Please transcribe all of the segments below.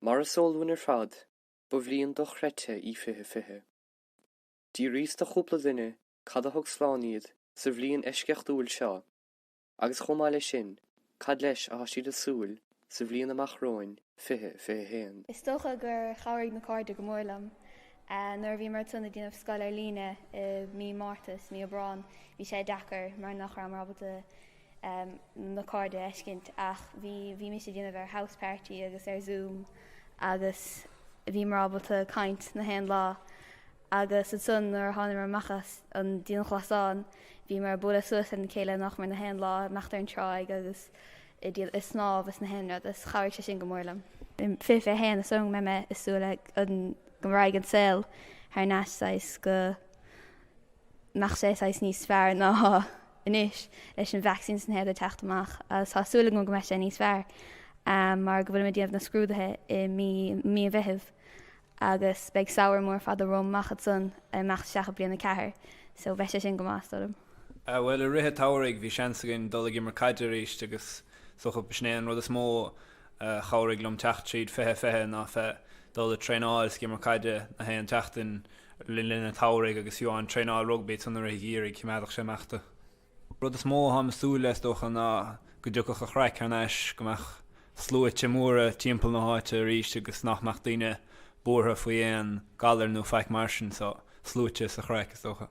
Mar is eol dúinn ar fad, ba bhliain dochreidte í fiche fiche. D'fhiaríos do chúpla duine cad a thug slán iad sa bhliain eisceachtúil seo agus chomh maith leis sin cad leis a thá siad a súil sa bhliain amach romhainn fiche fiche haon. Is dócha gur chabhraigh na cairde go mór liom. Nuair a bhíomar ag tosnú ag déanamh scoil ar líne i mí Márta is mí Aibreáin bhí sé deacair mar nach rabhamar ábalta na cairde a fheiscint ach bhí bhímis ag déanamh ar House Party agus ar Zoom agus bhíomar ábalta caint na haon lá agus ansan nuair a thánamar amach as an dianghlasáil bhíomar ag bualadh suas lena chéile nach mór na haon lá ag imeacht ar an tráigh agus ag dul ag snámh is na haon rud is chabhraigh sé sin go mór liom. I 2021 is dóigh liom go mbeidh mé ag súil go raghaidh an saol thar n-ais saghas go mbeadh sé saghas níos fearr ná anois leis an vacsaín is na haon rud ag teacht amach agus tá súil agam go mbeidh sé níos fearr mar go bhfuilim ag déanamh na scrúduithe i mí mí an Mheithimh agus beidh samhradh mór fada romham amach ansan ag imeacht isteach i bliain a ceathair so bheadh sé sin go maith, is dóigh liom. Ah bhuel i rith an tsamhraidh bhí seans againn dul ag imirt caide arís agus is dócha b'shin é an rud is mó a chabhraigh liom teacht tríd 20 20 ná bheith ag dul ag traenáil is ag imirt caide na haon tseachtain le linn an tsamhraidh agus fiú amháin traenáil rugbaí ansan i rith an gheimhridh choimeádfadh sé ag imeacht tú. rud is mó a táim ag súil leis is dócha ná go dtiocfadh an chraic thar n-ais, go mbeadh sluaite móra timpeall na háite arís agus nach mbeadh daoine buartha faoi aon galar nó faic mar sin so, sluaite is an chraic is dócha.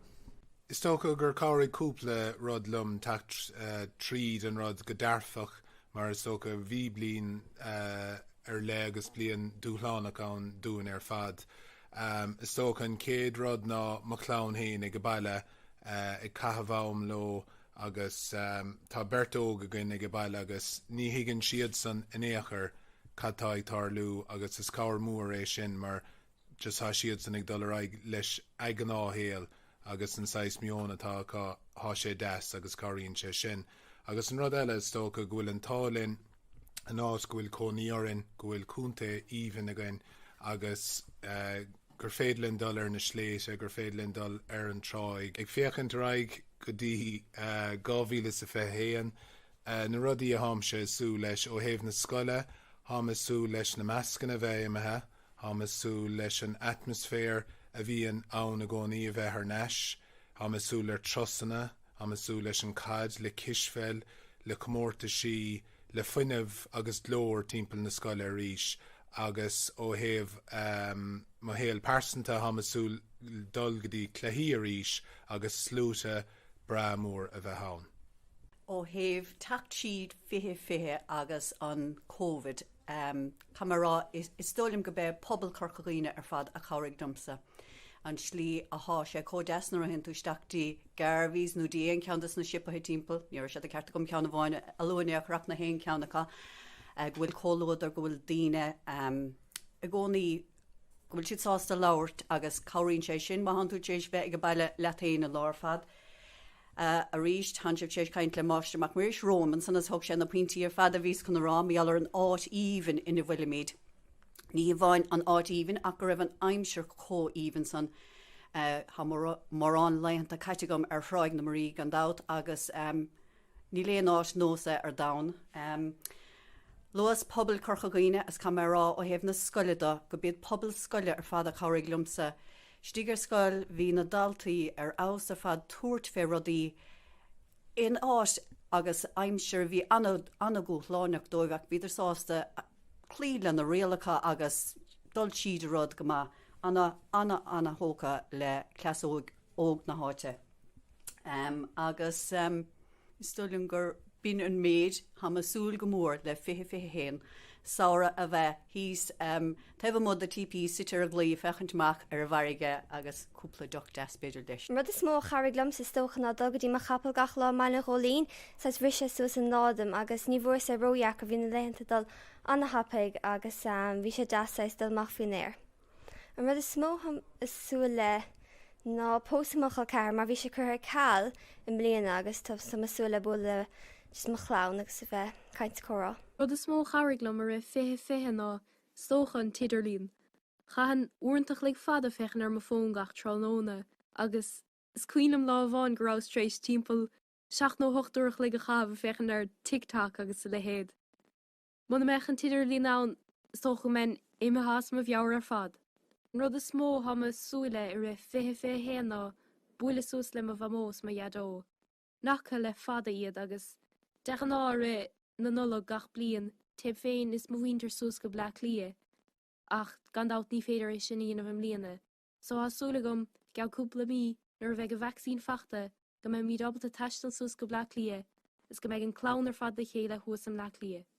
Is dócha gur chabhraigh cúpla rud liom teacht tríd an rud go dearfach Mar is dócha, bhí bliain ar leith agus bliain dúshlánach ann dúinn ar fad. Is dócha an chéad rud ná mo chlann féin aige baile ag caitheamh am leo agus tá beirt óg againn aige baile agus ní thuigeann siadsan in aon chor cad tá ag tarlú agus is cabhair mór é sin mar tá siadsan ag dul ar aghaidh leis a' gnáthshaol agus an saghas meon atá acu, thá sé deas agus cabhraíonn sé sin. Agus an rud eile, is dócha go bhfuil an t-ádh linn an áit go bhfuil cónaí orainn, go bhfuil contae aoibhinn againn agus gur féidir linn dul ar na sléibhte, gur féidir linn dul ar an tráigh. Ag féachaint ar aghaidh go dtí 2021, na rudaí a tháimse a' súil leis, ó thaobh na scoile, tháim a' súil leis na mascanna a bheith imithe, Táim ag súil leis an atmaisféar a bhíonn ann i gcónaí a bheith ar n-ais. Táim ag súil le turasanna, táim ag súil leis an caid, le cispheil, le comórtaisí, le fuinneamh agus glór timpeall na scoile arís agus ó thaobh mo shaol pearsanta táim ag súil dul go dtí cluichí arís agus sluaite breá mór a bheith ann. Ó thaobh teacht tríd 2020 agus an Covid Caithfidh mé a rá, is dóigh liom go b'é pobal Chorca Dhuibhne ar fad a chabhraigh domsa. An slí a thá sé chomh deas nuair a théann tú isteach dtí Garvey's nó dtí aon cheann de sna siopaithe timpeall, ní raibh sé de cheart agam ceann amháin a lua in éineacht, ach in aon cheann acu go bhfuil comhluadar, go bhfuil daoine i gcónaí go bhfuil siad sásta labhairt agus cabhraíonn sé sin má thánn tú tar éis bheith ag an baile leat féin an lá ar fad. Arís, thánn sibh tar éis caint le Máistir Mac Muiris romham ansan is thug sé na pointí ar fad a bhíos chun a rá mar gheall ar an áit aoibhinn ina bhfuilimid. Ní hamháin an áit aoibhinn ach go raibh an aimsir chomh haoibhinn san. Tá mórán laethanta caite agam ar Thráigh na Muirí gan dabht agus, Níl aon áit nós é ar domhan. Luas pobal Chorca Dhuibhne, is caithfidh mé a rá, ó thaobh na scoile do, go b'iad pobail scoile ar fad a chabhraigh liomsa. Istigh ar scoil bhí na daltaí ar fheabhas ar fad tabhairt fé rudaí in áit agus aimsir a bhí an-dhúshlánach dóibh ach bhíodar sásta cloí lena rialacha agus dul tríd a rud go maith. Ana, ana, ana-thógtha le haos óg óg na háite. Agus is dóigh liom gurb in an méid. Tá mé ag súil go mór le 2021, samhradh a bheith thíos taobh amuigh de TP, suite ar an gclaí ag féachaint amach ar an bhfarraige agus cúpla deoch deas b'fhéidir leis. An rud is mó a chabhraigh liom, is dócha, ná dul go dtí mo chapall gach lá i mBaile an Ghóilín, saghas bhris sé suas an lá dom agus ní bhfuair sé ródheacair, bhí na laethanta ag dul ana-thapaidh agus bhí sé deas saghas dul amach faoin aer. An rud is mó atáim ag súil le ná pósadh mo chol ceathar mar bhí sé curtha ar ceal i mbliana agus tá mé ag súil le bualadh le just mo chlann agus a bheith ag caint is comhrá. Rud is mó a chabhraigh liom i rith 2020 ná, is dócha, an t-idirlíon. Chaithinn uaireanta chloig fada féachaint ar mo fhón gach tráthnóna agus is cuimhin liom lá amháin go rabhas tar éis timpeall seacht nó hocht uair a chloig a chaitheamh ag féachaint ar TikTok agus a leithéad. Muna mbeadh an t-idirlíon ann, is dócha go mbeinn imithe as mo mheabhair ar fad. An rud is mó atá mé ag súil le i rith 2021 ná bualadh suas le mo Mhamó is mo Dhaideo, ná faca le fada iad, agus de ghnáth i rith na Nollag gach bliain, téim féin is mo mhuintir suas go Bleá Cliath, ach gan dabht ní féidir é sin a dhéanamh i mbliana. Tá súil agam, go gceann cúpla mí, nuair a bheidh an vacsaín faighte, go mbeimid ábalta taisteal suas go Bleá Cliath is go mbeidh an clann ar fad le chéile thuas i mBleá Cliath.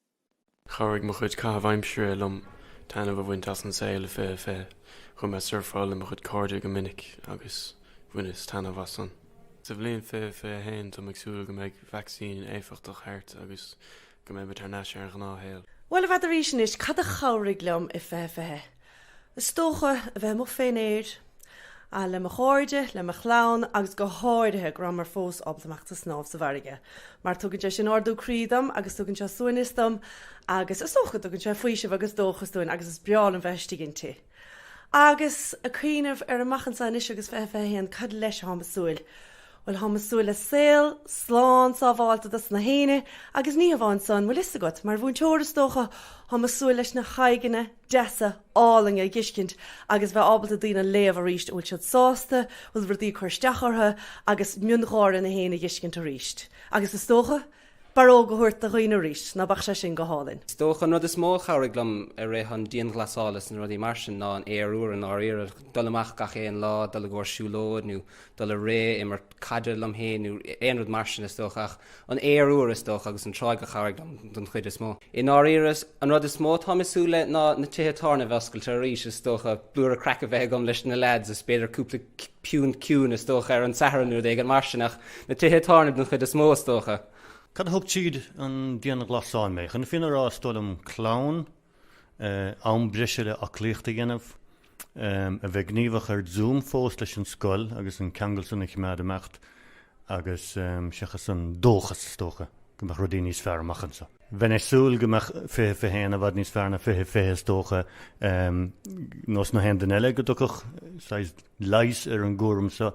Chabhraigh mo chuid caitheamh aimsire liom taitneamh a bhaint as an saol i 2020. Chuaigh mé ag surfáil le mo chuid cairde go minic agus bhaineas taitneamh as san. Sa bhliain 2021, táim ag súil go mbeidh vacsaín éifeachtach thart agus Go mbeimid thar n-ais ar an ghnáthshaol. Bhuel, i bhfad arís anois, cad a chabhraigh liom i fiche, fiche, is dócha, a bheith amuigh fén aer, ah, le mo chairde, le mo chlann, agus go háirithe go rabhamar fós ábalta imeacht ag snámh sa bhfarraige, mar tugann sé sin ardú croí dom agus tugann sé suaimhneas dom agus is dócha go dtugann sé faoiseamh agus dóchas dúinn agus is breá liom bheith istigh inti. Agus ag cuimhneamh ar amach anseo anois agus fiche, fiche a haon, cad leis atáim ag súil? Bhuel, táim ag súil le saol slán sábháilte dos na haoinne agus ní hamháin san, bhfuil fhios agat, mar mhúinteoir is dócha, táim ag súil leis na haghaidheanna deasa álainne a dh'fheiscint agus bheith ábalta daoine a léamh arís, an bhfuil siad sásta, bhfuil rudaí ag cur isteach orthu agus miongháire na haoinne a dh'fheiscint arís. Agus is dócha. Barróg a thabhairt do dhaoine arís, ná beadh sé sin go hálainn? Is dócha an rud is mó a chabhraigh liom i rith an dianghlasála is na rudaí mar sin ná an aer úr, i ndáiríre. Dul amach gach aon lá, dul i gcomhair siúlóid nó dul ag rith, imirt caide liom féin nó aon rud mar sin, is dócha. Ach an aer úr, is dócha, agus an tráigh a chabhraigh liom den chuid is mó. I ndáiríre, an rud is mó atáim ag súil le ná na tithe tábhairne a bheith oscailte arís, is dócha. Blúire craic a bheith agam leis na leaids is b'fhéidir cúpla piúnt ciúin, is dócha, ar an Satharn nó rud éigin mar sin. Ach. Na tithe tábhairne den chuid is mó, is dócha. Cad a thug tríd an dianghlasáil mé? Chun na fírinne a rá, is dóigh liom clann, am breise le aclaíocht a dhéanamh, a bheith gníomhach ar Zoom fós leis an scoil agus an ceangal sin a choimeád ag imeacht agus seachas an dóchas, is dócha, go mbeadh rudaí níos fearr amach anseo. Bheinn ag súil go mbeadh fiche fiche a haon i bhfad níos fearr ná fiche fiche is dócha, nós na haon duine eile go dtiocfadh saghas leigheas ar an gcúram seo.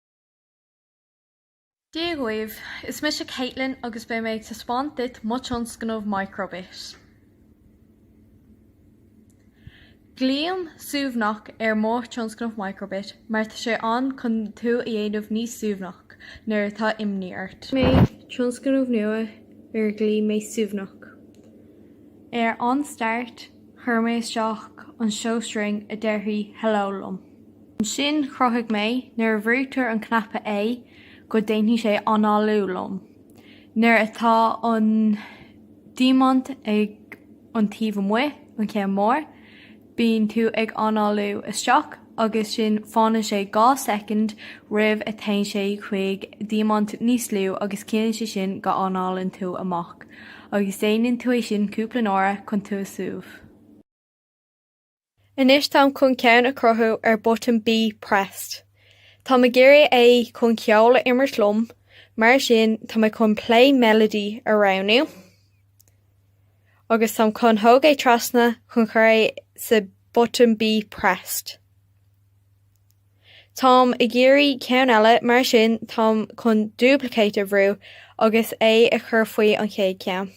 Dia dhaoibh, is mise Caitlin agus beidh mé ag taispeáint duit mo tionscnamh Microbit. Glaoim suaimhneach ar mo thionscnamh Microbit mar tá sé ann chun tú a dhéanamh níos suaimhneach nuair atá imní ort. Rinne mé tionscnamh nua ar ghlaoigh mé suaimhneach. Ar an start chuir mé isteach an show string a déarfaidh 'hello' liom. Ansin chruthaigh mé, nuair a bhrúitear an cnaipe A, go déanfaidh sé análú liom nuair atá an diamant ag an taobh amuigh, an ceann mór, bíonn tú ag análú isteach agus sin fanann sé dhá soicind roimh a téann sé chuig diamant níos lú agus ciallaíonn sé sin go análann tú amach agus déanann tú é sin cúpla uaire chun tú a súbh. Anois táim chun ceann a chruthú ar button B pressed. Táim ag iarraidh é chun cheoil a imirt liom, mar sin tá mé chun play melody a roghnú, agus táim chun thóg é trasna chun chur é sa button B pressed. Táim ag iarraidh ceann eile, mar sin táim chun duplicate a bhrú agus é a chur faoi an chéad cheann.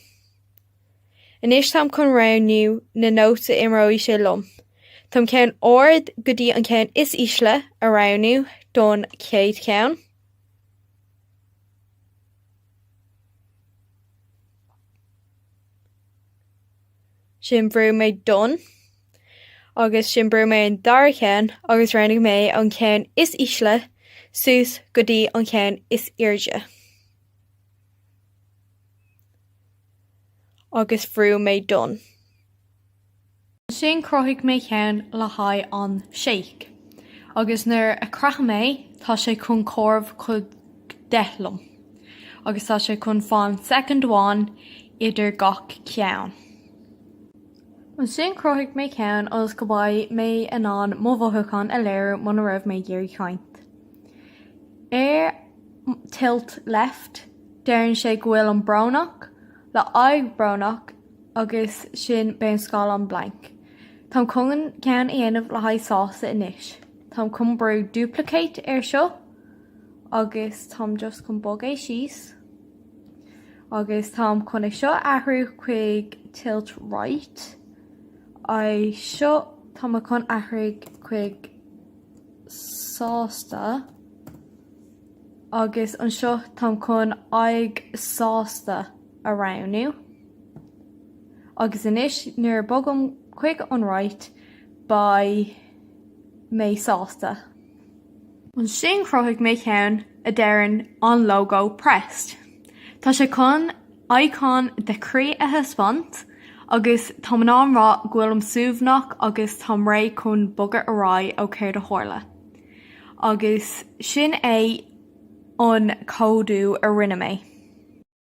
Anois táim chun roghnú na nóta a imreoidh sé liom. Táim ceann ard go dtí an ceann is ísle a roghnú don chéad cheann. Ansin bhrúigh mé done agus ansin bhrúigh mé an dara ceann agus roghnaigh mé an ceann is ísle suas go dtí an ceann is airde. agus bhrúigh mé done. Ansin chruthaigh mé ceann le haghaidh an shake, agus nuair a chroith mé é, tá sé chun comhaireamh chuig deich liom, agus tá sé chun fan soicind amháin idir gach ceann. Ansin chruthaigh mé ceann ionas go mbeidh mé in ann mo mhothúchán a léiriú muna raibh mé ag iarraidh caint ar Tilt Left, deireann sé go bhfuil mé brónach le aghaidh brónach agus ansin beidh an scáileán blank. Táim chun ceann a dhéanamh le haghaidh sásta anois. Táim chun brú duplicate air seo agus táim just chun bog é síos. Agus táim chun é seo a athrú chuig tilt right. É seo tá mé chun athrú chuig sásta. Agus anseo táim chun aghaidh sásta a roghnú. Agus anois nuair a bogaim chuig an right beidh mé sásta. Ansin chruthaigh mé ceann a deireann an logo pressed. Tá sé chun icon de chroí a thaispeáint agus tá mé ag rá go bhfuilim suaimhneach agus táim réidh chun bogadh ar aghaidh ó céard a tharla. Agus sin é an códú a rinne mé.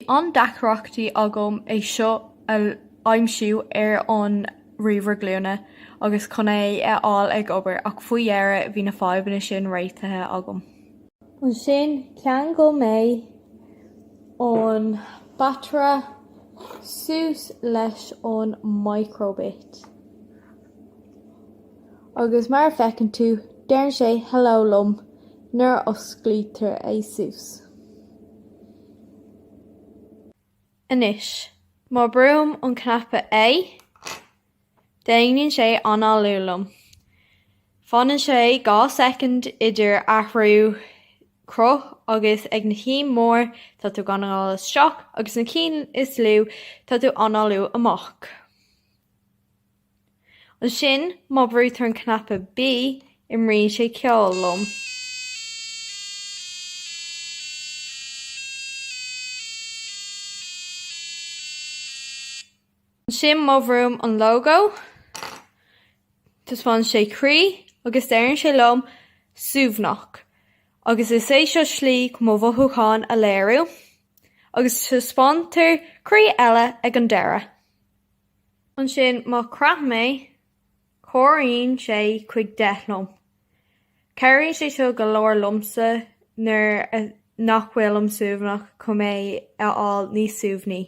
Bhí an-deacrachtaí agam é seo a aimsiú ar an ríomhaire glúine agus chun é a fháil ag obair, ach faoi dheireadh bhí na fadhbanna sin réitithe agam. Ansin, cheangail mé an bataire suas leis an microbit. Agus mar a feiceann tú, deireann sé hello liom nuair a osclaítear é suas. Anois, má brúim an cnaipe A, déanann sé análú liom. Fanann sé dhá soicind idir athrú cruth agus ag na cinn mór tá tú ag análú isteach agus na cinn is lú tá tú análú amach. Ansin, má bhrúitear an cnaipe B, imríonn sé ceol liom. Ansin, má bhrúim an lógó, taispeánann sé croí agus deireann sé liom 'suaimhneach'. Agus is é seo slí chun mo mhothúcháin a léiriú. Agus taispeántar croí eile ag an deireadh. Ansin, má chraithim é, comhairíonn sé chuig deich liom. Cabhraíonn sé seo go leor liomsa nuair nach bhfuilim suaimhneach chun mé a fháil níos suaimhní.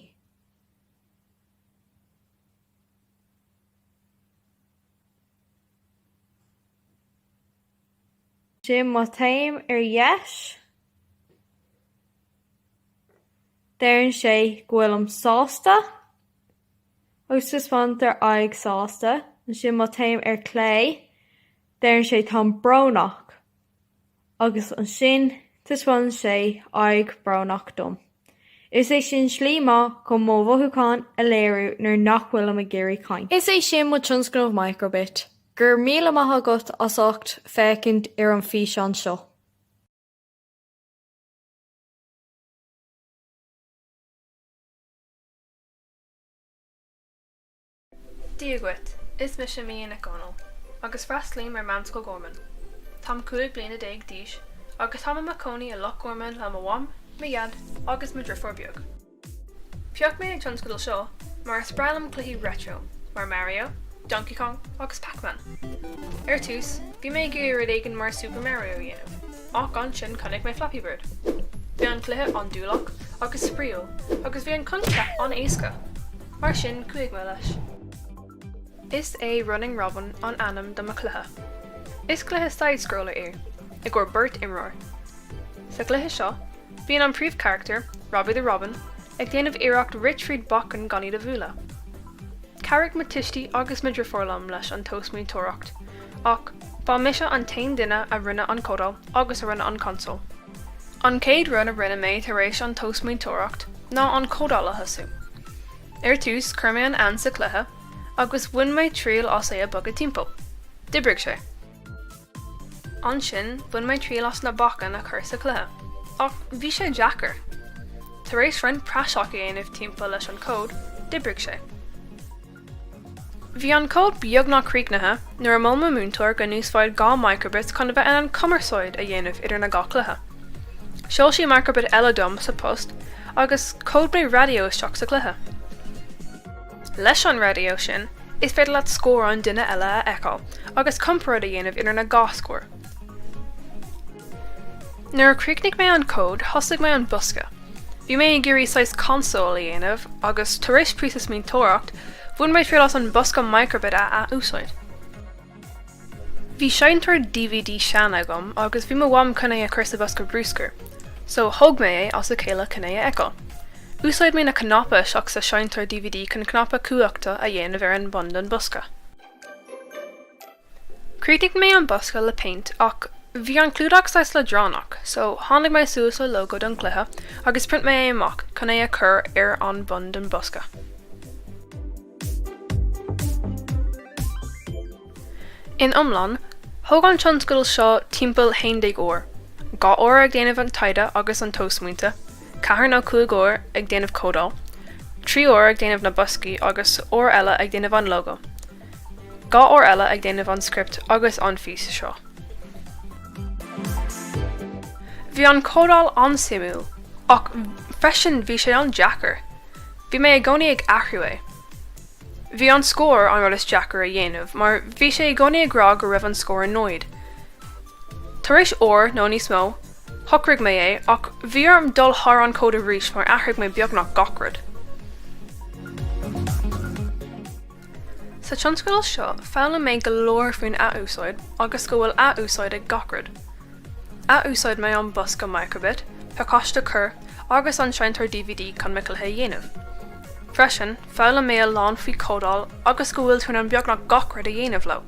Sin má téim ar dheis. Deireann sé go bhfuilim sásta agus taispeántar aghaidh sásta. Ansin má téim ar clé, deireann sé táim brónach agus ansin taispeánann sé aghaidh brónach dom. Is é sin slí maith chun mo mhothúcháin a léiriú nuair nach bhfuilim ag iarraidh caint. Is é sin mo tionscnamh Microbit. Go raibh míle maith agat as ucht féachaint ar an físeán seo. Dia dhuit, is mise Mia Nic Dhomhnaill agus freastlaím ar Meánscoil Gharman. Táim cúig bliana déag d'aois agus táim i mo cónaí i Loch Garman le mo mham, mo dhaid agus mo dheirfiúr beag. Phioc mé an tionscadal seo mar is breá liom cluichí retro mar Mario, Donkey Kong agus Pac-Man. Ar tús, bhí mé ag iarraidh rud éigin mar Super Mario a dhéanamh, ach ansin chonaic mé Flappy Bird. Bhí an cluiche andúileach agus spraíúil agus bhí an coincheap an-éasca. Mar sin, chuaigh mé leis. Is é Running Robin an ainm do mo chluiche. Is cluiche side-scroller é, i gcomhair beirt imreoir. Sa cluiche seo, bíonn an príomhcharactar, Robbie the Robin, ag déanamh iarracht rith tríd bacainn gan iad a bhualadh. Chabhraigh mo tuistí agus mo dheirfiúr liom leis an tobsmaointeoireacht, ach ba mise an t-aon duine a rinne an códáil agus a rinne an consól. An chéad rud a rinne mé tar éis an tobsmaointeoireacht ná an códáil a thosú. Ar dtús, chuir mé an éan sa chluiche agus bhain mé triail as é a bogadh timpeall. D'oibrigh sé. Ansin, bhain mé triail as na bacainní a chur sa chluiche, ach bhí sé deacair. Tar éis roinnt praiseach a dhéanamh timpeall leis an cód, d'oibrigh sé. Bhí an cód beagnach críochnaithe nuair a mhol mo múinteoir go n-úsfáid dhá microbits chun a bheith in ann cumarsáid a dhéanamh idir na dhá cluiche. Sheol sí microbit eile dom sa post agus chód mé raidió isteach sa cluiche. Leis an raidió sin, is féidir leat scór an duine eile a fheiceáil agus comparáid a dhéanamh idir na dhá scór. Nuair a chríochnaigh mé an cód, thosaigh mé an bosca. Bhí mé ag iarraidh saghas console a dhéanamh, agus tar éis próiseas smaointeoireacht, bhain mé triail as an bosca microbit a ath-úsáid. Bhí seinnteoir dvd sean agam, agus bhí mo mham chun é a chur sa bhosca brúscair, so thóg mé é as a chéile chun é a fheiceáil. Úsáid mé na cnaipí isteach sa seinnteoir dvd chun cnaipe cumhachta a dhéanamh ar an bun don bosca. Chríochnaigh mé an bosca le péint ach bhí an clúdach saghas leadránach so tháinig mé suas le lógó don chluiche agus phrint mé é amach chun é a chur ar an bun den bosca. In iomlán, thóg an tionscadal seo timpeall haon déag uair, dhá uair ag déanamh an taighde agus an tobsmaointe, ceithre nó cúig uair ag déanamh códáil, trí uair ag déanamh na boscaí agus uair eile ag déanamh an lógó. Dhá uair eile ag déanamh an script agus an físeán seo. Bhí an códáil an-suimiúil, ach freisin bhí sé an-deacair. Bhí mé i gcónaí ag athrú é. Bhí an scór an rud is deacair a dhéanamh mar bhí sé i gcónaí ag rá go raibh an scór náid. Tar éis uair nó níos mó, shocraigh mé é, ach bhí orm dul thar an chód arís mar athraigh mé beagnach gach rud. Sa tionscadal seo, foghlaim mé go leor faoin ath-úsáid agus go bhfuil ath-úsáid ag gach rud. Ath-úsáid mé an bosca Microbit, pacáiste Kerr, agus an seinnteoir dvd chun mo chluiche a dhéanamh. Freisin, foghlaim mé a lán faoi códáil agus go bhfuil tú in ann beagnach gach rud a dhéanamh leo.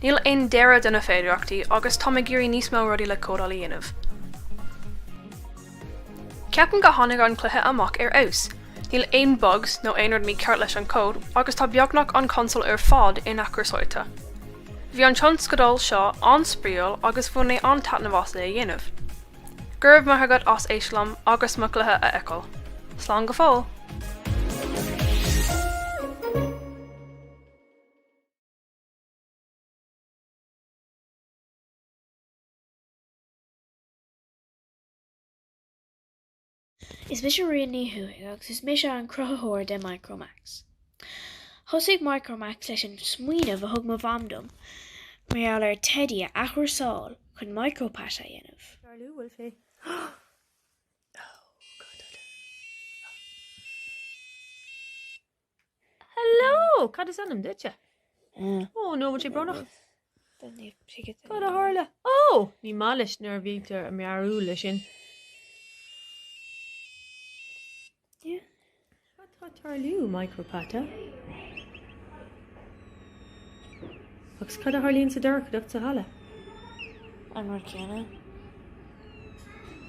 Níl aon deireadh do na féidireachtaí agus táim ag iarraidh níos mó rudaí le códáil a dhéanamh. Ceapann go tháinig an cluiche amach ar fheabhas. Níl aon bugs nó aon rud mícheart leis an cód agus tá beagnach an console ar fad inathchúrsáilte. Bhí an tionscadal seo an-spraíúil agus bhain mé an-taitneamh as é a dhéanamh. Go raibh maith agat as éist liom agus mo chluiche a fheiceáil. Slán go fóill! Is mise Ríona Ní Chuaig agus is mise an cruthaitheoir de Micromax. Thosaigh Micromax leis an smaoineamh a thug mo mham dom mar gheall ar teidí a athchúrsáil chun micro-pata a dhéanamh. Tarlú, bhfuil sé. Oh, God, oh, no. Oh. Hello! Cad is ainm duitse? Ó no, bhfuil sé brónach. Cad a tharla? Ó! Ní maith leis nuair a bhítear ag meabhrú leis sin. Cad tá ag tarlú, Micro Pata? Agus cad a tharlaíonn sa dorchadacht sa halla? An rud céanna.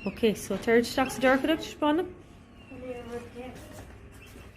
Ok, so téir isteach sa dorchadacht, taispeáin liom.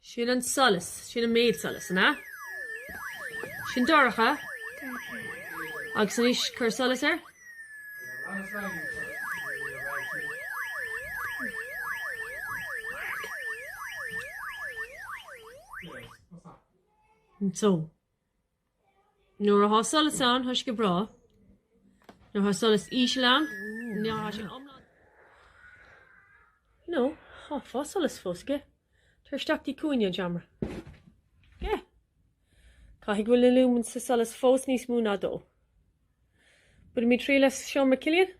Sin an solas, sin an méid solais, an ea? Sin dorcha? Dorcha. Agus anois cuir solas air? So? Nuair athá solas ann, thá sé go breá. Nuair athá solas íseal ann, nuair athá sé iomlán dubh. Nó thá solas fós aige, tar isteach go dtí cúinne an tseomra. Yeah! Caithfidh go bhfuil na lúmain sa solas fós níos mó ná dó. Bainimid triail as seomra Chillian.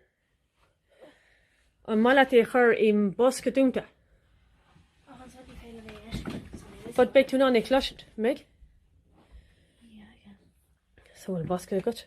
An maith leat é a chur i mbosca dúnta? But beidh tú in ann é a cloisint, mbeidh? So bhfuil bosca agat?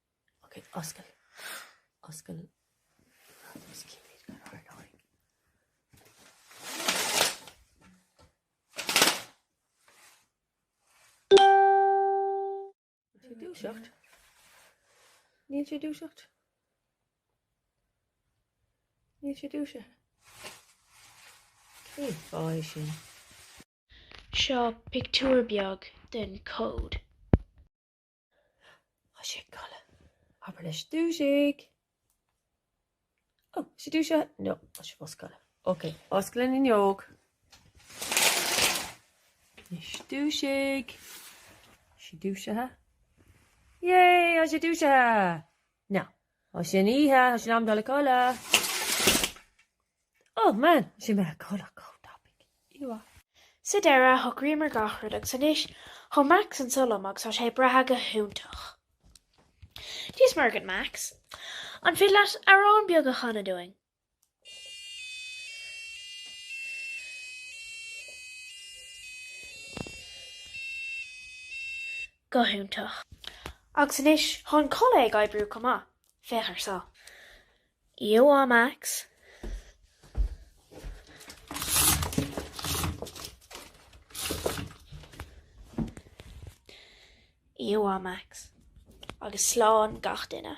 Seo pictiúr beag den cód. Tá sé ag codladh. Abair leis dúisigh. Ó, sé dúisithe? No, tá sé fós ag codladh. Ok, oscail an fhuinneog. Is dúisigh. Sé dúisithe? Yay, tá sé dúisithe! No, tá sé ina oíche, tá sé in am dul a codladh. Oh man, she made a good cold topic. You are. Sa deireadh, shocraíomar gach rud agus anois tá Max anseo liom agus tá sé ag breathnú go hiontach. Dia's Muire dhuit Max. An féidir leat amhrán beag a chanadh dúinn? Go hiontach. Agus anois tá an culaith ag oibriú go maith. Féach ar seo. Iowa Max, Iowa Max, agus slán gach duine.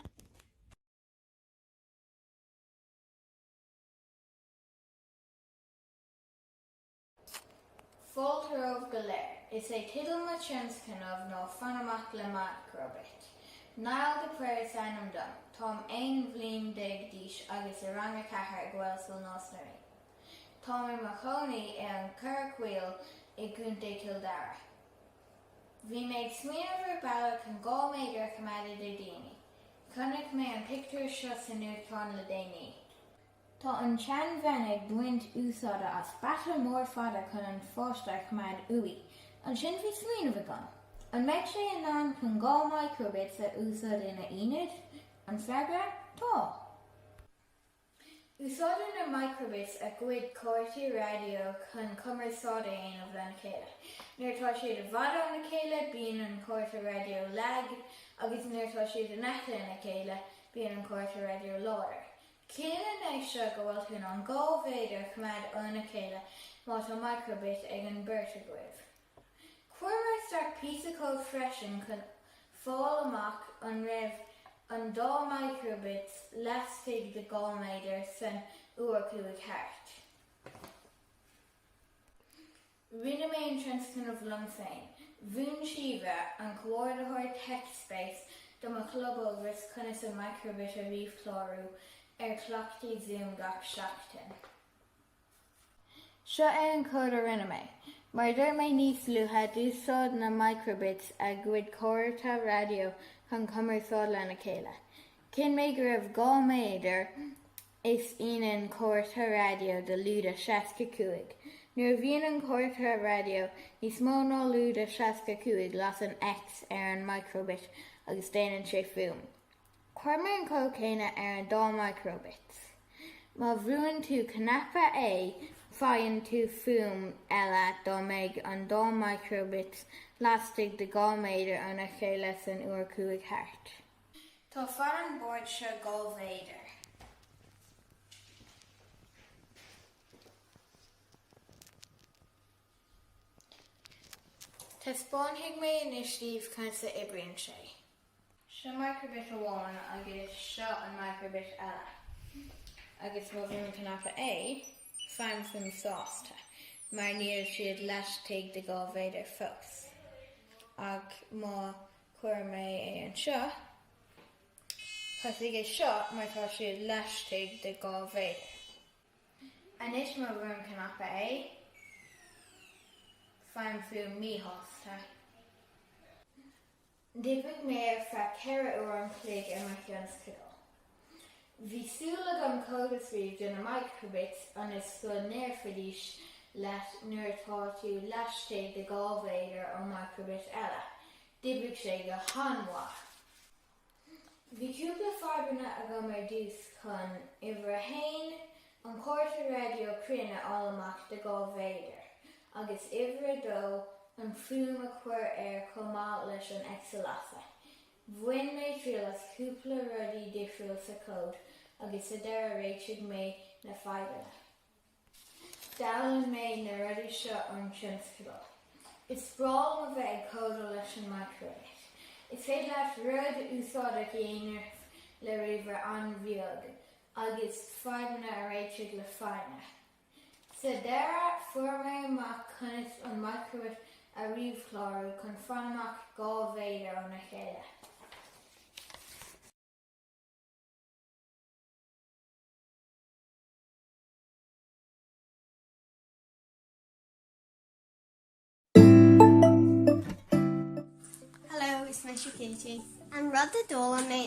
Fáilte romhaibh go léir, is é teideal mo thionscnaimh ná Fan Amach le micro-bit. Niall de Paor is ainm dom. Táim aon bhliain déag d'aois agus i rang a ceathair ag Gaelscoil Nás na Ríogh. Táim i mo chónaí i an Chorrchoill i gContae Cill Dara. Bhí mé ag smaoineamh ar bealach chun dhá méadar a choimeád idir daoine. Chonaic mé an pictiúr seo sa nuachtán le déanaí. Tá an tseanbhean ag baint úsáide as bata mór fada chun an pháiste a choimeád uaidh. Ansin bhí smaoineamh agam. An mbeidh sé in ann chun dhá micro-bits a úsáid ina ionad? An freagra, Tá! Úsáideann na micro-bits a gcuid comharthaí raidió chun cumarsáid a dhéanamh lena chéile. Nuair atá siad i bhfad óna chéile, bíonn an comhartha raidió lag, agus nuair atá siad in aice lena chéile, bíonn an comhartha raidió láidir. Ciallaíonn sé seo go bhfuil tú in ann dhá mhéadar a choimeád óna chéile má tá micro-bit ag an beirt agaibh? Chuir mé isteach píosa cóid freisin chun fáil amach an raibh an dá micro-bit lastigh de dhá mhéadar san uair a chuaigh thart. Rinne mé an tionscnamh liom féin. Mhúin Síomha, an Comhordaitheoir TechSpace, do mo chlub Ógras conas an Microbit a ríomhchlárú ar chleachtaí Zoom gach seachtain. Seo an cód a rinne mé. Mar a dúirt mé níos luaithe, d'úsáid na Microbits a gcuid comhartha raidió chun cumarsáid lena chéile. Chinn mé go raibh dhá méadar Is ionann comhartha raidió de lúide 65. Nuair a bhíonn an comhartha raidió níos mó ná lúide 65 lasann an X ar an microbit agus déanann sé fuaim. Chuir mé an cód céanna ar an dá microbits. Má bhrúann tú cnaipe A faigheann tú fuaim eile dá mbeidh an dá microbits laistigh de 2 méadar óna chéile san uair chuaigh thart. Tá fad an bord seo dhá mhéadar. Taispeánfaidh mé anois daoibh conas a oibríonn sé. Seo microbit amháin agus seo an microbit eile agus má bhrúim an cnaipe A, faighim fuaim sásta mar níl siad laistigh de dhá mhéadar fós ach má. Chuireann mé é anseo chuig seo mar tá sé laistigh de dhá mhéadar. Anois má bhrúim cnaipe A, faighim fuaim míshásta. D'oibrigh mé ar feadh ceithre uair a chloig ar mo thionscadal. Bhí súil agam cód a scríobh do na micro-bits ionas go ndéarfaidís leat nuair atá tú laistigh de dhá mhéadar ón micro-bit eile. D'oibrigh sé go han-mhaith. Bhí cúpla fadhbanna agam ar dtús chun uimhir a haon, an comhartha raidió cruinn, a fháil amach de dhá mhéadar, agus uimhir a dó, an fuaim a chur air chomh maith leis an X a lasadh. Bhain mé triail as cúpla rudaí difriúil sa cód agus sa deireadh réitigh mé na fadhbanna. D'fhoghlaim mé na rudaí seo ón tionscadal. Is breá liom a bheith ag códáil leis an microbit. Is féidir leat rud úsáideach a dhéanamh le ríomhaire an-bheag agus fadhbanna a réiteach le foighne. Sa deireadh, fuair mé amach conas an microbit a ríomhchlárú chun fan amach dhá mhéadar óna chéile. Hello, is mise Katie. An rud a d'fhoghlaim mé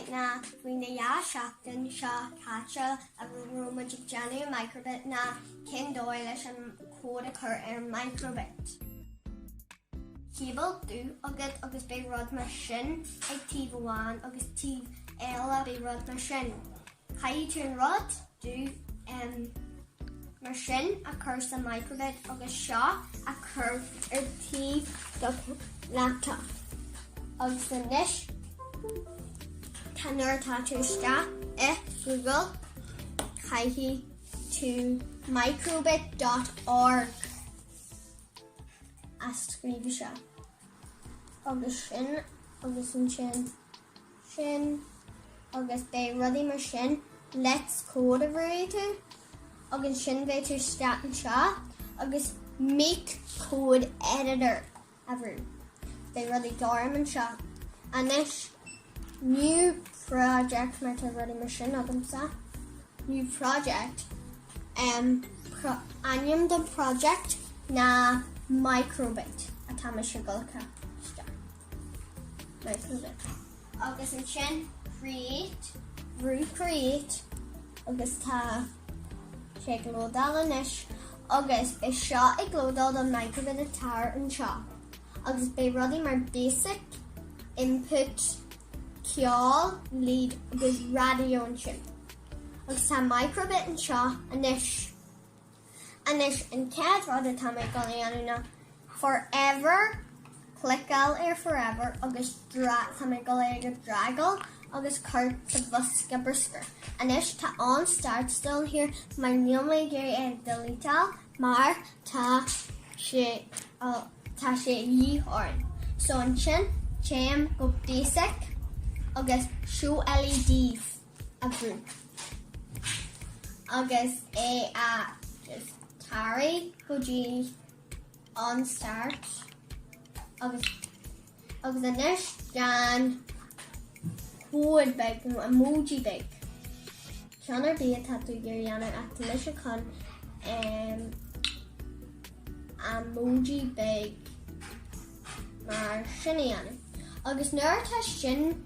faoi na dhá seachtain seo caite a raibh muid ag déanamh Microbit ná cén dóigh leis an cód a chur ar Microbit. Cable dubh agat agus beidh rud mar sin ag taobh amháin agus taobh eile beidh rud mar sin. Caithfidh tú an rud dubh mar sin a chur sa microbit agus seo a chur ar thaobh do laptop. Agus anois tá nuair atá tú istigh i Google caithfidh tú microbit.org a scríobh anseo. Agus ansin agus ansin sin agus beidh rudaí mar sin Let's Code a bhrú agus ansin beidh tú istigh anseo agus MakeCode Editor a bhrú. Beidh rudaí gorm anseo. Anois, New Project mar tá rudaí mar sin agamsa. New Project, ainm don project ná Microbit atá mise ag cur isteach. Agus ansin create. Brú create agus tá sé ag lódáil anois agus é seo ag lódáil an microbit atá anseo. Agus beidh rudaí mar basic, input, ceol, LED agus radio ansin. Agus tá microbit anseo anois. Anois, an chéad rud atá mé ag dul a dhéanamh ná forever, cliceáil ar forever agus tá mé ag dul é a dhragáil agus a chur sa bhosca bruscair. Anois, tá on start still there mar níl mé ag iarraidh é a dheleteáil mar tá sé, tá sé de dhíth orainn. So ansin, téim go basic agus show LEDs. a bhrú agus é a tarraingt go dtí on start agus anois déan code beag nó emoji beag ceann ar bith atá tú ag iarraidh a dhéanamh ach tá mise chun emoji beag mar sin a dhéanamh agus nuair atá sin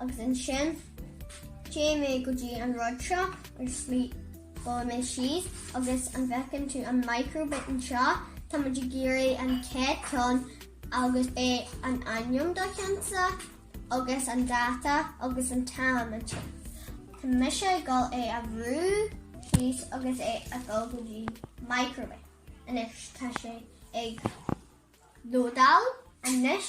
Agus ansin, téann mé go dtí an rud seo ar slí, buail mé síos agus an bhfeiceann tú an microbit anseo, tá muid ag iarraidh an chéad ceann agus é an ainm de do cheannsa agus an dáta agus an t-am ansin. Tá mise ag dul é a bhrú síos agus é a dul go dtí microbit. Anois tá sé ag lódáil anois.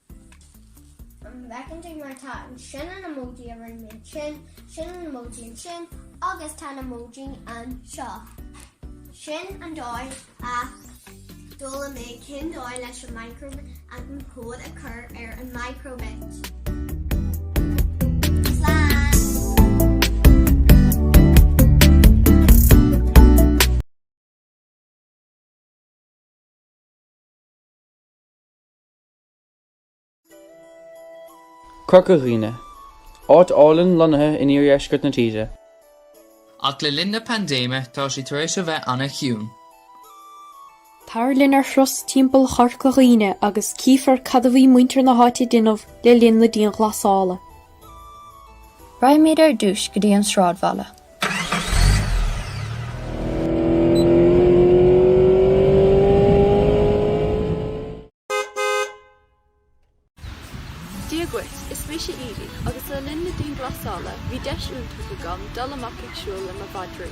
An bhfeiceann tú mar tá ansin an emoji a rinne mé ansin, sin an emoji ansin, agus tá na emoji anseo? Sin an dóigh a d'fhoghlaim mé cén dóigh leis an microbit an cód a chur ar an microbit. Corca Dhuibhne, áit álainn lonnaithe in iardheisceart na tíre. Ach le linn na paindéime tá sí tar éis a bheith an-chiúin. Tar linn ar thuras timpeall Chorca Dhuibhne agus cífear cad a bhí muintir na háite a déanamh le linn na dianghlasála. Raghaimid ar dtús go dtí an sráidbhaile. Dia dhuit, is mise Evie agus le linn na dianghlasála bhí deis iontach agam dul amach ag siúl le mo mhadraí.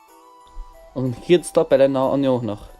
An chéad stop eile ná an Eoghanacht.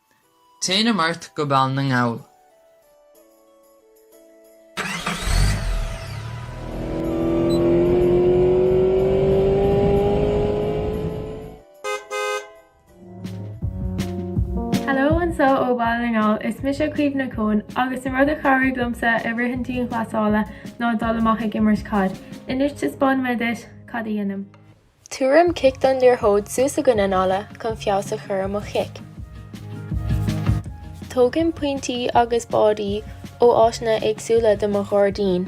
Téanam ort go Baile na nGall. Hello anso ó Baile na nGall, is mise Caoimhe Ní Chonn agus an rud a chabhraigh liomsa i rith an dianghlasála ná dul amach ag imirt caid. Anois taispeánfaidh mé duit cad a dhéanaim. Tugaim cic don liathróid suas i gcoinne an fhalla chun feabhas a chur ar mo chic. Tógaim pointí agus báidí ó áiteanna éagsúla i mo ghairdín.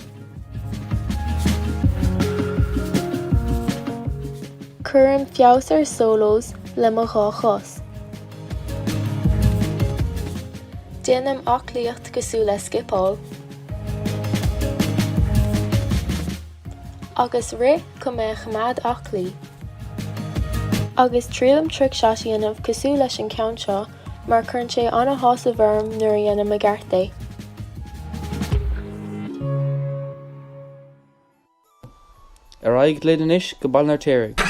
Cuirim feabhas ar solos le mo dhá chos. Déanaim aclaíocht cosúil le scipeáil. Agus rith chun mé a choimeád aclaí. Agus triailim trick shot a dhéanamh cosúil leis an ceann seo mar cuireann sé ana-shásamh orm nuair a dhéanaim i gceart é. Ar aghaidh linn anois go Baile an Fheirtéaraigh.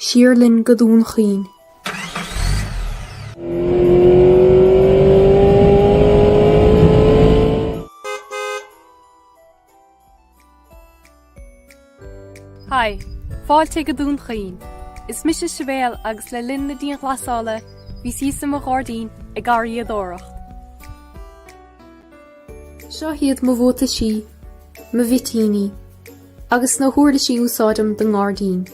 siar linn go Dún Chaoin. Hi, fáilte go Dún Chaoin. Is mise Sibéal agus le linn na dianghlasála bhíos i mo ghairdín ag garraíodóireacht. Seo iad mo bhuataisí, mo mhitíní, agus na huirlisí a úsáidim do ngairdín.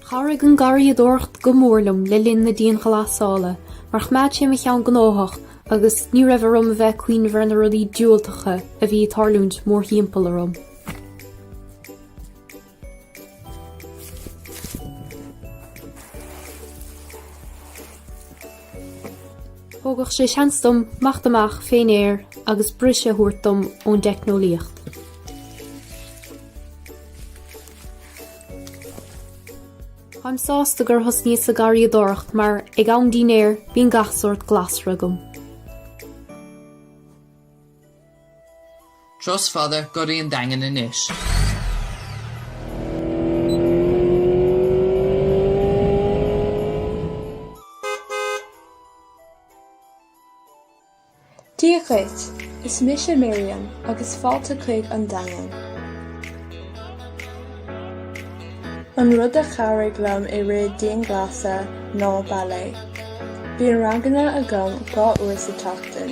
Chabhraigh an garraíodóireacht go mór liom le linn na dianghlasála mar choimeád sé mo cheann gnóthach agus ní raibh orm a bheith ag cuimhneamh ar na rudaí diúltacha a bhí ag tarlúint mórthimpeall orm. Thugadh sé seans dom imeacht amach fén aer agus briseadh a thabhairt dom ón dteicneolaíocht. Táim sásta gur thosnaíos ag garraíodóireacht mar ag am dinnéir glasra bíonn gach sórt glasra agam. Turas fada go dtí an Daingean anois. Dia dhuit, is mise Miriam agus fáilte chuig an Daingean. An rud a chabhraigh liom i rith dianghlasáil ná ballet. Bíonn ranganna agam dhá uair sa tseachtain.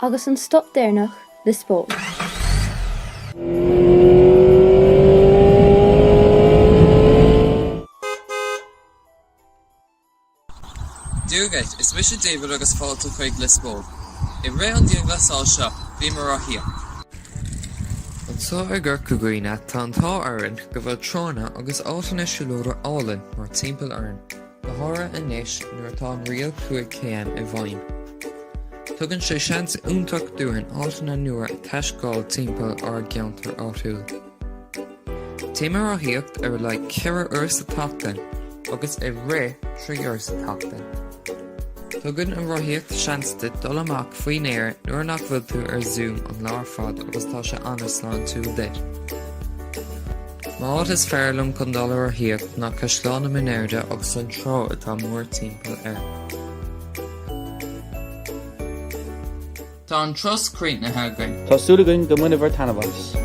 Agus an stop deireanach, Lios Póil. Dia dhuit, is mise David agus fáilte chuig Lios Póil. I rith an dianghlasáil seo, bhíomar ag rothaíocht. Anseo i gCorca Dhuibhne, tá an t-ádh orainn go bhfuil tránna agus áiteanna siúlóide álainn mórthimpeall orainn. go háirithe anois nuair atá an riail 5 km i bhfeidhm. Tugann sé seans iontach dúinn áiteanna nua a thaiscéaladh timpeall ár gceantar áitiúil. Téim ag rothaíocht ar a laghad 4 uair sa tseachtain agus ag rith 3 uair sa tseachtain. Tugann an rothaíocht seans duit dul amach faoin aer nuair nach bhfuil tú ar Zoom an lá ar fad agus tá sé an-sláintiúil duit. An áit is fearr liom chun dul ar rothaíocht ná Caisleán na Minéirde agus an trá atá mór-timpeall air. Tá an turas críochnaithe againn. Tá súil againn go mbainfidh sibh taitneamh as.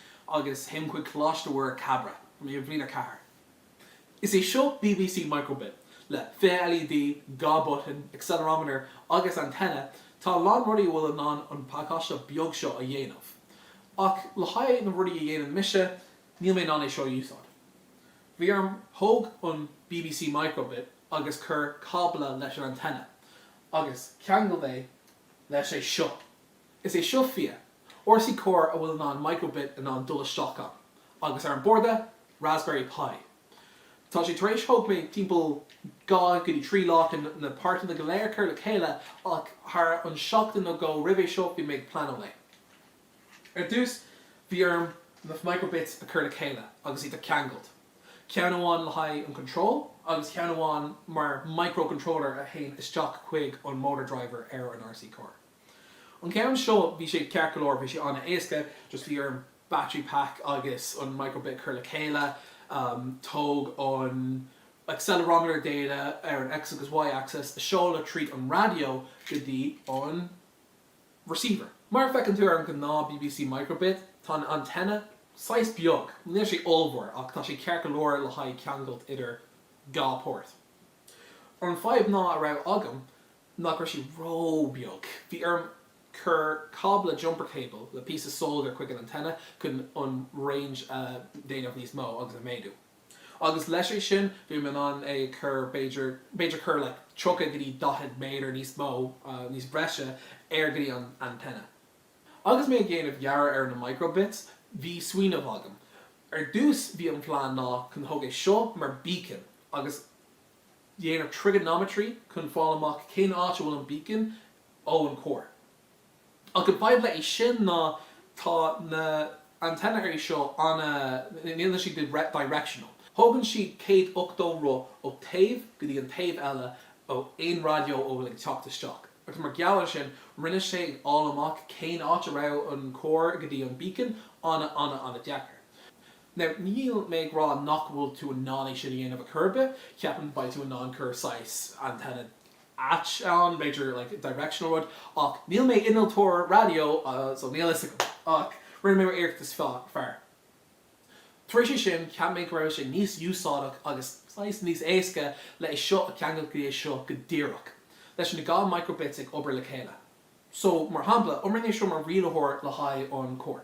agus théim chuig Coláiste Mhuire Cabra i mbliain a 4. Is é seo BBC Microbit, le 20 LED, dhá button, accelerometer agus antenna, tá a lán rudaí a bhfuil in ann an pacáiste beag seo a dhéanamh. Ach le haghaidh na rudaí a dhéanann mise, níl mé in ann é seo a úsáid. Bhí orm thóg an BBC Microbit agus cur cábla leis an antenna, agus ceangail é leis é seo. Is é seo Fia, RC car a bhfuil in ann micro-bit in ann dul isteach ann, agus ar an borda, Raspberry Pi. Tá sé tar éis, thóg mé timpeall dhá go dtí trí lá chun na páirteanna go léir a chur le chéile ach thar an seachtain nó dhó roimh é seo bhí mé ag pleanáil é. Ar dtús bhí orm na micro-bits a chur le chéile agus iad a cheangailt, ceann amháin le haghaidh an control agus ceann amháin mar micro-controller a théann isteach chuig an motor driver ar an RC car. An ceann seo, bhí sé ceart go leor, bhí sé an-éasca, just bhí orm battery pack agus an micro-bit a chur le chéile, tóg an accelerometer data ar an X agus Y axis, é seoladh tríd an raidió go dtí an receiver. Mar a feiceann tú ar an gnáth bbc micro-bit, tá an antenna saghas beag, níl sé ollmhór ach tá sé ceart go leor le haghaidh ceangailt idir dhá port. An fadhb ná a raibh agam nach raibh sé ró-bheag. Bhí orm cur cábla jumper cable le piece of solder chuig an antenna chun an range a dhéanamh níos mó agus a mhéadú. Agus leis é sin, bhí mé in ann é cur b'fhéidir, b'fhéidir cur like 30 go dtí 40 méadar níos mó, níos breise air go dtí an antenna. Agus mé ag dhéanamh dhearadh ar na micro bits, bhí smaoineamh agam. Ar dtús, bhí an plean ná chun thóg é seo mar beacon agus. Dhéanamh trigonometry chun fáil amach cén áit a bhfuil an beacon ó an car. Ach an fadhb le é sin ná tá na antennae seo ana, níl siad directional. Thógann siad céad ochtó roth ó taobh go dtí an taobh eile ó aon raidió a bhfuil ag teacht isteach. Agus mar gheall ar sin, rinne sé ag fháil amach cén áit a raibh an car go dtí an beacon ana ana ana deacair. Now, níl mé ag rá nach bhfuil tú in ann é sin a dhéanamh ar chor ar bith, ceapaim beidh tú in ann cur saghas antenna ait ann, b'fhéidir, like directional rud, ach níl mé innealtóir raidió so níl a fhios agam, ach rinne mé m'iarracht is fearr. Tar éis é sin, cheap mé go raibh sé níos úsáideach agus saghas níos éasca le é seo a cheangal go dtí é seo go díreach, leis na dhá micro-bits ag obair le chéile. So, mar shampla, oibríonn é seo mar rialaitheoir le haghaidh an carr.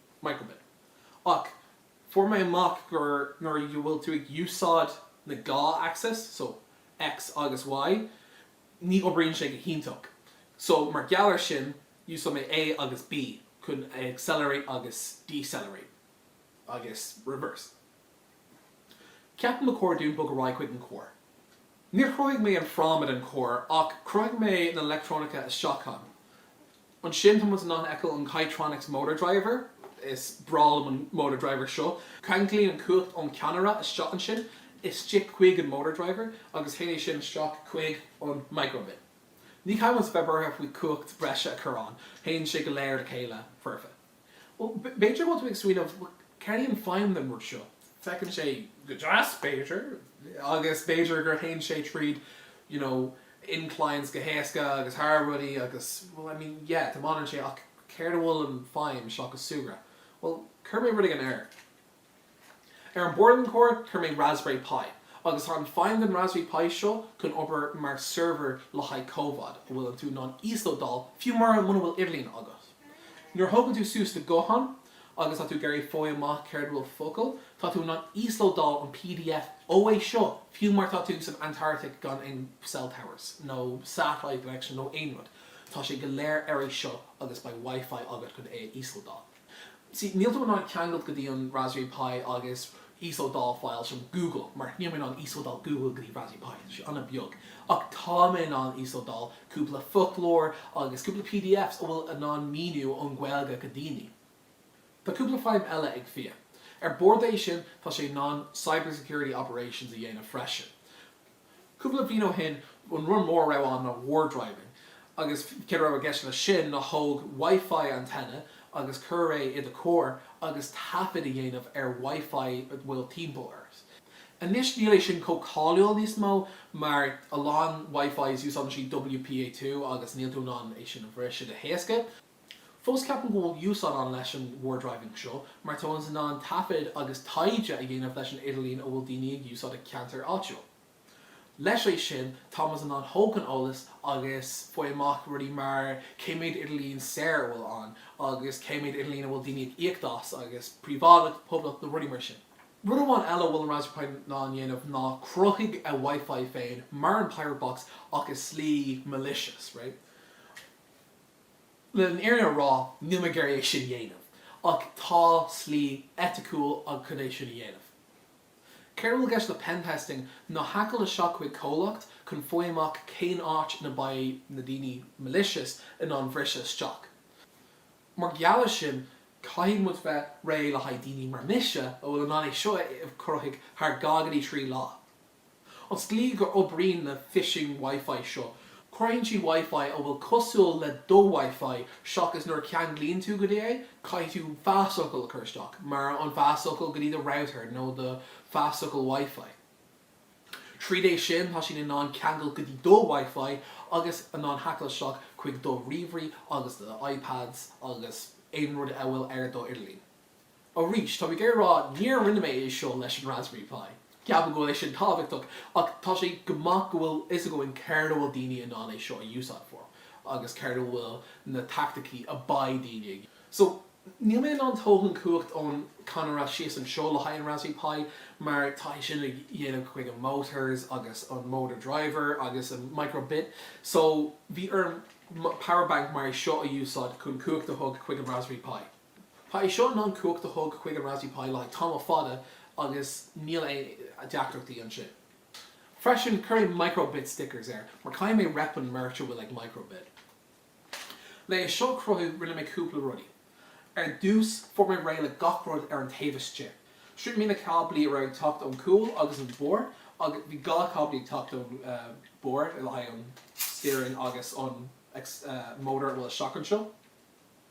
Micro:bit Ach fuair mé amach gur nuair a bhfuil tú ag úsáid na dhá axes, so X agus Y, ní oibríonn sé go hiontach. So mar gheall ar sin, úsáid mé A agus B chun accelerate agus decelerate. Agus reverse. Ceapaim ba chóir dúinn bogadh ar aghaidh chuig an carr. Níor chruthaigh mé an fráma den charr ach chruthaigh mé na leictreonacha isteach ann. Ansin tá muid in ann fheiceáil an Kitronik's Motor Driver, is breá liom an Motor Driver seo, ceanglaíonn an cumhacht ón cadhnra isteach ansin, istigh chuig an Motor Driver agus théann é sin isteach chuig an Microbit. Ní chaithfimid bheith buartha faoi chumhacht breise a chur ann, théann sé go léir le chéile foirfe. B'fhéidir go bhfuil tú ag smaoineamh, céard í an feidhm den rud seo? Feiceann sé go deas, b'fhéidir, agus b'fhéidir gur théann sé tríd you know inclines go héasca agus thar rudaí agus bhuel I mean yeah tiomáineann sé ach céard a bhfuil an feidhm seachas súgradh? Bhuel, chuir mé rud éigin air. Ar an bord an carr, chuir mé Raspberry Pi, agus tá an feidhm den Raspberry Pi seo chun obair mar server le haghaidh comhaid a bhfuil an tú in ann íoslódáil fiú mura muna bhfuil idirlíon agat. Nuair a thógann tú suas do guthán agus tá tú ag iarraidh fáil amach céard a bhfuil focal, tá tú in ann íoslódáil an pdf ó é seo fiú mar tá tú san Antartaic gan aon cell towers nó satellite connection nó aon rud. Tá sé go léir ar é seo agus beidh Wi-Fi agat chun é a íoslódáil. See, níl tú in ann ceangailt go dtí an Raspberry Pi agus íoslódáil files from Google, mar níl mé in ann íoslódáil Google go dtí Raspberry Pi, tá sé an-bheag. Ach tá mé in ann íoslódáil cúpla foclóir agus cúpla PDFs a bhfuil in ann míniú ón Gaeilge go daoine. Tá cúpla feidhm eile ag Fia. Ar bord é sin, tá sé in ann cybersecurity operations a dhéanamh freisin. Cúpla bliain ó shin, an rud mór a raibh ann ná war driving, agus céard a raibh i gceist leis sin ná thóg Wi-Fi antenna agus chuir é i do charr agus taifead a dhéanamh ar Wi-Fi a bhfuil timpeall ort. Anois níl é sin chomh cáiliúil níos mó mar a lán Wi-Fis úsáideann siad WPA2 agus níl tú in ann é sin a bhriseadh go héasca. Fós ceapaim go bhfuil úsáid ann leis an war driving seo mar tá muid in ann taifead agus taighde a dhéanamh leis an idirlíon a bhfuil daoine ag úsáid i gceantar áitiúil. Leis é sin tá muid in ann tógáil eolas agus faigh amach rudaí mar cé méid idirlíon saor a bhfuil ann agus cé méid idirlíon a bhfuil daoine ag íoc as agus príobháideach, poblach nó rudaí mar sin. Rud amháin eile a bhfuil an Raspberry Pi in ann dhéanamh ná cruthaigh a Wi-Fi féin mar an Pirate Box ach i slí malicious, right? Leis an fhírinne a rá, níl mé ag iarraidh é sin a dhéanamh, ach tá slí eiticiúil ann chun é sin a dhéanamh. Céard a bhfuil i gceist le pen testing ná haiceáil isteach chuig comhlacht chun faigh amach cén áit ina beidh na daoine malicious in ann bhriseadh isteach. Mar gheall ar sin, caithfidh muid bheith réidh le haghaidh daoine mar mise a bhfuil in ann é seo a chruthaigh thar dhá go dtí trí lá. An slí gur oibríonn na phishing wifi seo, cuireann siad wifi a bhfuil cosúil le do wifi seachas nuair a cheanglaíonn tú go dtí é, caithfidh tú phasfhocal a chur isteach, mar an phasfhocal go dtí do router nó do phasfhocal wifi. Tríd é sin tá siad in ann ceangal go dtí do wifi agus in ann haiceáil isteach chuig do ríomhairí agus do iPads agus aon rud a bhfuil ar do idirlíon. Arís, tá mé ag iarraidh a rá, níor rinne mé é seo leis an Raspberry Pi. Ceapaim go bhfuil é sin tábhachtach, ach tá sé go maith go bhfuil fhios againn céard a bhfuil daoine in ann é seo a úsáid for, agus céard a bhfuil na taicticí a beidh daoine ag. So, níl mé in ann tógáil an chumhacht ón canna raidió síos anseo le haghaidh an Raspberry Pi, mar tá sé sin déanta chuig an motors agus an motor driver agus an micro bit. So, bhí orm power bank mar é seo a úsáid chun cumhacht a thug chuig an Raspberry Pi. Tá é seo in ann cumhacht a thug chuig an Raspberry Pi le haghaidh tamall fada agus níl aon deacrachtaí ansin. Freisin, chuir mé micro-bit stickers air mar caithfidh mé rep an merch a bhfuil ag micro-bit. Le é seo a chruthú, rinne mé cúpla rudaí. Ar dtús, fuair mé réidh le gach rud ar an taobh istigh. seachas na cáblaí a raibh ag teacht ón cúl agus an barr, agus bhí dhá cáblaí ag teacht ón barr le haghaidh an steering agus an motor a bhfuil isteach anseo.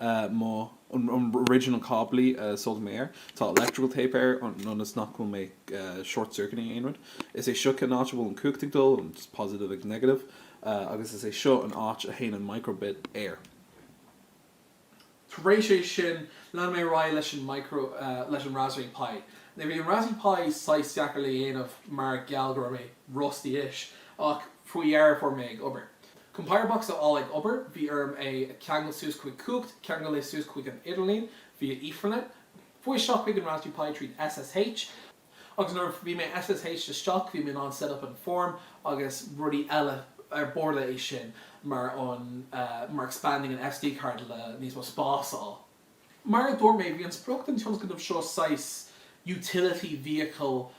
na original cáblaí a soldáil mé air. Tá electrical tape air ionas nach bhfuil mé ag short circuiting aon rud. Is é seo an áit a bhfuil an cumhacht ag dul, an positive agus negative, agus is é seo an áit a théann an micro-bit air. Tar éis é sin lean mé ar aghaidh leis an micro, leis an Raspberry Pi. Now bhí an Raspberry Pi saghas deacair le dhéanamh mar gheall go raibh mé rusty-ish ach faoi dheireadh fuair mé é ag obair. Chun PirateBox a fháil ag obair. Bhí orm é ceangal suas chuig cumhacht, ceangal é suas chuig an idirlíon via Ethernet, chuaigh isteach chuig an Raspberry Pi tríd SSH, agus nuair a bhí mé ag SSH isteach bhí mé in ann set up an form agus rudaí eile ar bord é sin mar, mar expanding an SD card le níos mó spás a fháil. Mar a dúirt mé, bhí an sprioc don tionscnamh seo saghas utility vehicle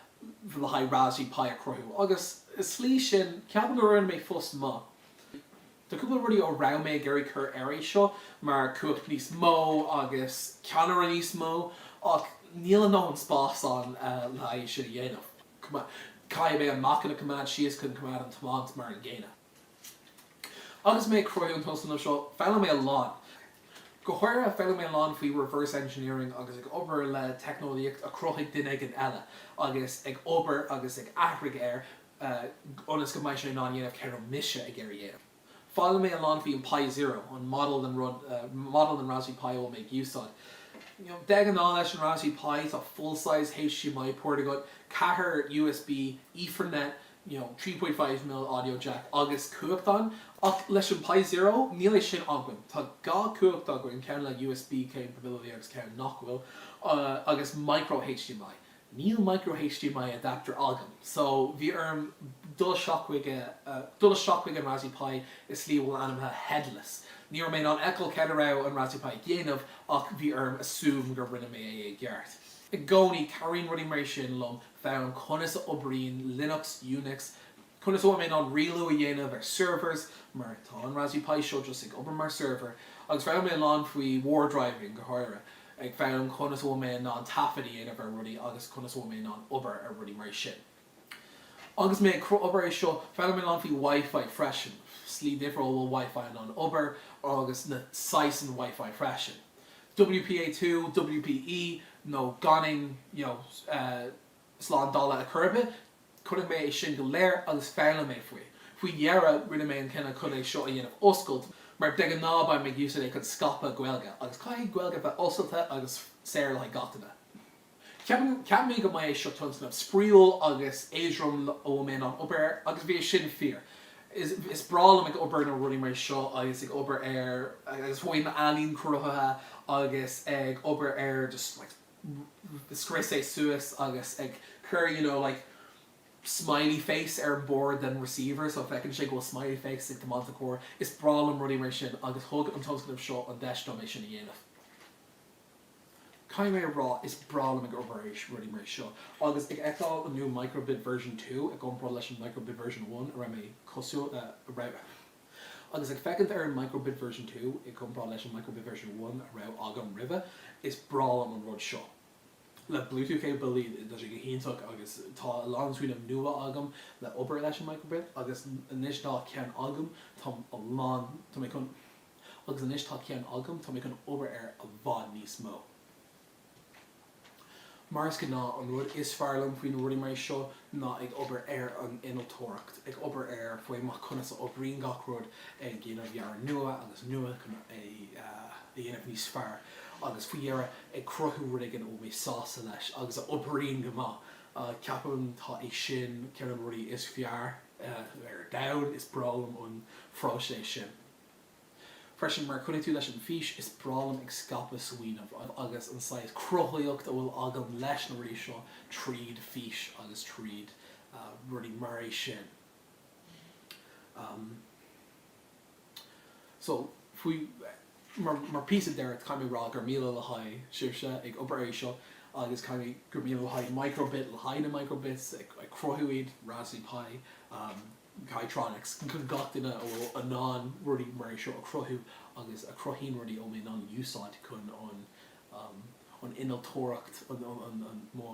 le haghaidh Raspberry Pi a chruthú, agus i slí sin, ceapaim go rinne mé fós maith. Tá cúpla rudaí a raibh mé ag iarraidh cur ar é seo, mar cumhacht níos mó agus ceamara níos mó, ach níl a ndóthain spás ann le haghaidh sin a dhéanamh. Caithfidh mé an meáchan a coimeád síos chun coimeád an tiomáint mar an gcéanna. Agus mé ag cruthú an tionscnamh seo, foghlaim mé a lán. Go háirithe, foghlaim mé a lán faoi reverse engineering agus ag obair le teicneolaíocht a chruthaigh duine éigin eile, agus ag obair agus ag athraigh air ionas go mbeidh sé in ann dhéanamh céard a raibh mise ag iarraidh a dhéanamh. Foghlaim mé a lán faoi an Pi Zero, an model den rud, model den Raspberry Pi a bhfuil mé ag úsáid. You know, de ghnáth leis an Raspberry Pi, tá full-size HDMI port agat, ceathair USB, Ethernet, you know, 3.5 mil audio jack agus cumhacht ann ach leis an Pi Zero níl é sin againn, tá dhá chumhacht againn, ceann le USB capability agus ceann nach bhfuil agus micro HDMI. Níl micro HDMI adapter agam so bhí orm dul isteach chuig dul isteach chuig an Raspberry Pi i slí a bhfuil ainmnithe headless. Ní raibh mé in ann fheiceáil cad a raibh an Raspberry Pi ag dhéanamh ach bhí orm assume gur rinne mé é i gceart. I gcónaí, cabhraíonn rudaí mar é sin liom foghlaim conas a oibríonn Linux, Unix, conas a bhfuil mé in ann rialú a dhéanamh ar servers, mar tá an Raspberry Pi seo just ag obair mar server, agus foghlaim mé a lán faoi war driving go háirithe, ag foghlaim conas a bhfuil mé in ann taifead a dhéanamh ar rudaí agus conas a bhfuil mé in ann obair ar rudaí mar sin. Agus mé ag obair é seo, foghlaim mé a lán faoi Wi-Fi freisin, slí difriúil a bhfuil Wi-Fi in ann obair agus na saghsanna Wi-Fi freisin. WPA2, WPE, nó gan aon, you know, slándála a chur ar bith. Chonaic mé é sin go léir agus foghlaim mé faoi. Faoi dheireadh, rinne mé an cinneadh chun é seo a dhéanamh oscailt, mar de ghnáth beidh mé ag úsáid é chun scaipeadh Gaeilge, agus caithfidh Gaeilge bheith oscailte agus saor le haghaidh gach duine. Cheap mé go mbeadh é seo tionscnamh spraíúil agus éadrom a raibh mé in ann obair air, agus bhí sin fíor. Is breá liom ag obair ar rudaí mar seo agus ag obair ar agus bheith mar ealaín cruthaithe agus ag obair ar just like ag scrios é suas agus ag cur you know like smiley face ar bord den receiver so feiceann sé go bhfuil smiley face ag tiomáint an carr. Is breá liom rudaí mar sin agus thug an tionscnamh seo an deis dom é sin a dhéanamh. Caithfidh mé a rá, is breá liom ag obair ar rudaí mar é seo, agus ag féachaint ar an new micro-bit version two i gcomparáid leis an micro-bit version one a raibh mé cosúil, a raibh, agus ag féachaint ar an micro-bit version two i gcomparáid leis an micro-bit version one a raibh agam roimhe, is breá liom an rud seo le Bluetooth capability, tá sé go hiontach agus tá a lán smaoineamh nua agam le hobair leis an micro-bit agus anois tá ceann agam, tá a lán, tá mé chun. agus anois tá ceann agam, tá mé chun obair air i bhfad níos mó. Mar is gnáth, an rud is fearr liom faoi na rudaí mar seo ná ag obair ar an innealtóireacht, ag obair air faoi mar conas a oibríonn gach rud, ag déanamh dhearadh nua agus nua chun é a dhéanamh níos fearr, agus faoi dheireadh, ag cruthú rud éigin a bhfuil mé sásta leis agus a oibríonn go maith. Ceapaim tá é sin ceann de na rudaí is fearr ar domhan, is breá liom an phróiseas sin. Freisin, mar a chonaic tú leis an bhfís, is breá liom ag scaipeadh smaoineamh agus an saghas cruthaitheacht a bhfuil agam leis na rudaí seo tríd fís agus tríd rudaí mar é sin. So, faoi mar mar píosa deiridh, caithfidh mé a rá gur míle le haghaidh Saoirse ag obair ar seo agus caithfidh gur míle le haghaidh Microbit le haghaidh na microbits ag cruthú iad, Raspberry Pi. Kitronik, chun gach duine a bhfuil in ann rudaí mar é seo a chruthú agus a chruthaíonn rudaí a bhfuil mé in ann a úsáid chun an an innealtóireacht an an an mo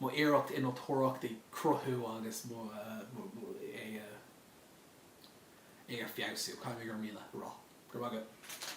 mo iarracht innealtóireacht ag cruthú agus mo mo mo é a é a feabhsú. Caithfidh mé gur míle a rá, go raibh maith agat.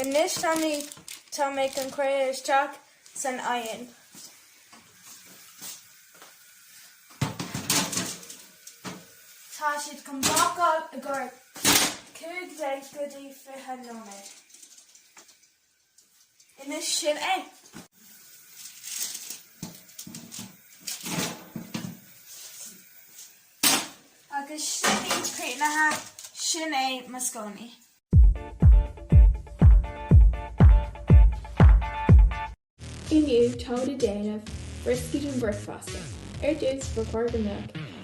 Anois tá mé chun é a chur isteach san oigheann. Tá siad chun bácáil i gcomhair 15 go dtí 20 nóiméad. Anois sin é. Agus sin í críochnaithe, sin é mo scónaí. Inniu táimid ag déanamh brioscaí don bhricfeasta. Ar dtús, ba chóir go mbeadh.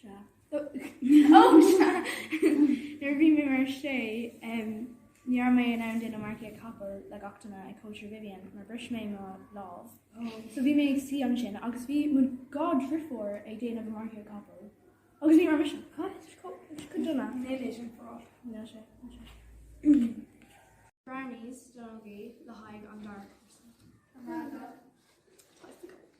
sea. Ó, sea. Nuair a bhí mé a sé, ní raibh mé in ann déanamh marcaíocht capall le gach duine ag cóisir Vivian mar bhris mé mo lámh. So bhí mé ag suí ansin agus bhí mo dhá dheirfiúr ag déanamh marcaíocht capall agus ní raibh mise. Cad? Go dona? Níl é sin breá. Níl sé. Níl sé. Brownies don ógaí le haghaidh an dara cúrsa. An raibh?